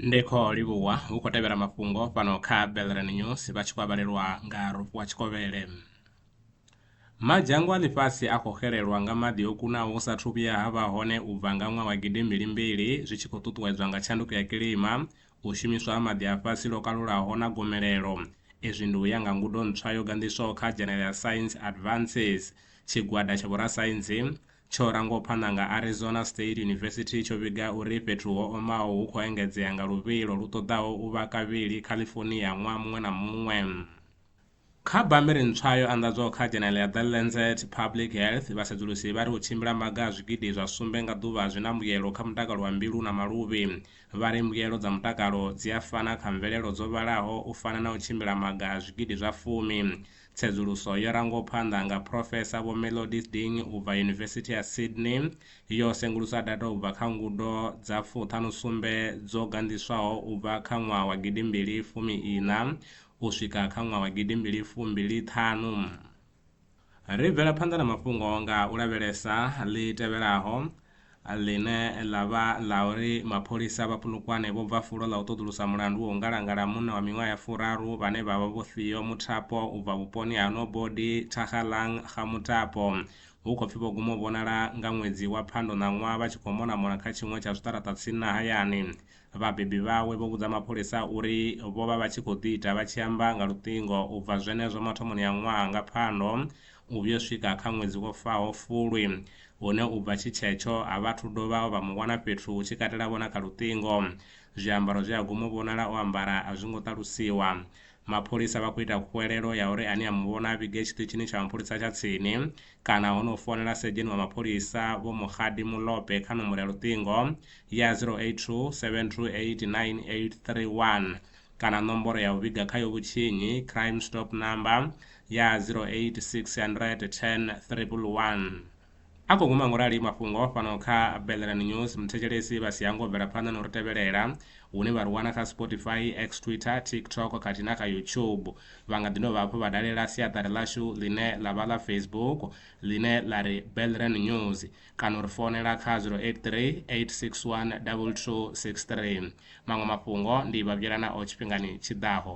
ndi khou livhuwa hu khou tevhela mafhungo fhano kha belren news vha tshi khou avhalelwa nga rofhiwa tshikovhele madzhango a ḽifhasi a khou xelelwa nga maḓi o kunaho hu sathu vhuya ha vha hone u bva nga ṅwaha wa gidimbili mbili zwi tshi khou ṱuṱuwedzwa nga tshanduko ya kilima u shumiswa ha maḓi a fhasi lwo kalulaho na gomelelo. Izwi ndi u ya nga ngudo ntswa yo ganḓiswaho kha General Science Advances. Tshigwada tsha vhorasaintsi tsho rangwaho phanḓa nga Arizona State University tsho vhiga uri fhethu ho omaho hu khou engedzea nga luvhilo lu ṱoḓaho u vha kavhili California ṅwaha muṅwe na muṅwe. Kha bammbiri ntswa yo anḓadzwaho kha dzhenele ya The Lancet Public Health, vhasedzulusi vha ri u tshimbila maga a zwigidi zwa sumbe nga ḓuvha zwi na mbuyelo kha mutakalo wa mbilu na maluvhi. Vha ri mbuyelo dza mutakalo dzi a fana kha mvelelo dzo vhalaho u fana na u tshimbila maga a zwigidi zwa fumi. Tsedzuluso yo rangwaho phanḓa nga Phrofesa Vho Melodies Ding u bva Yunivesithi ya Sydney yo sengulusa data u bva kha ngudo dza fuṱhanu sumbe dzo ganḓiswaho u bva kha ṅwaha wa gidimbili fumi iṋa u swika kha ṅwaha wa gidi mbili fu mbili ṱhanu. Ri bvela phanḓa na mafhungo nga u lavhelesa ḽi tevhelaho ḽine ḽa vha ḽa uri mapholisa vha Polokwane vho bva fulo ḽa u ṱoḓulusa mulandu wa u ngalangala munna wa miṅwaha ya furaru vhane vha vha Vho Theo Muthapo u bva vhuponi ha Nobody Thakgalang Ga Muthapo hu khou pfi vho guma u vhonala nga ṅwedzi wa Phando ṋaṅwaha vha tshi khou monamona kha tshiṅwe tsha zwiṱaraṱa tsini na hayani Vhabebi vhawe vho vhudza mapholisa uri vho vha vha tshi khou ḓi ita vha tshi amba nga luṱingo u bva zwenezwo mathomoni a ṅwaha nga Phando u vhuyo swika kha ṅwedzi wo faho Fulwi, hune u bva tshi tshetsho a vha thu dovha vha mu vhona fhethu hu tshi katela vho na kha luṱingo. Zwiambaro zwe a guma u vhonala o ambara a zwi ngo ṱalusiwa. mapholisa vha khou ita khuwelelo ya uri ane a mu vhona a vhige tshiṱitshini tsha mapholisa tsha tsini kana ho no founela sedzheni wa mapholisa Vho Mokgadi Molope kha nomboro ya luṱingo ya 082 7289831 kana nomboro ya u vhiga kha yo vhutshinyi Crime Stop Number ya 08600101. A khou guma ngorali mafhungo o fanaho kha Belleran News muthetshelesi vha si hangwe u bvela phanḓa na u ri tevhelela hune vha ri wana kha Spotify, X, Twitter, TikTok khathihi na kha YouTube. Vha nga ḓi dovha hafhu vha dalela siaṱari ḽashu ḽine ḽa vha ḽa Facebook ḽine ḽa ri Belleran News kana u ri founela kha 083 861 2263. Maṅwe mafhungo ndi Vhavhuyelanaho tshifhingani tshi ḓaho.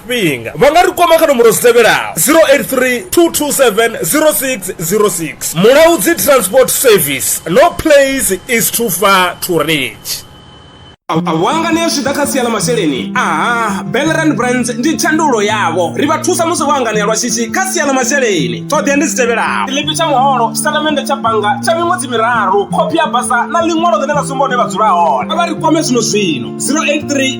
tshifhinga vha nga ri kwama kha nomboro dzi tevhelaho 083 227 0606 mulaudzi transport service no place is too far to reach wangane zwi ḓa kha sia ḽa masheleni aha belran brands ndi tshandulo yavho ri vha thusa musi vho anganea lwa shishi kha sia ḽa masheleni ṱhoḓea ndi dzi tevhelaho tshiḽipi tsha muholo tshitatamennde tsha bannga tsha miṅwedzi miraru khophi ya basa na ḽiṅwalo ḽine ḽa sumba hune vha dzula hone a vha ri kwame zwino zwino 083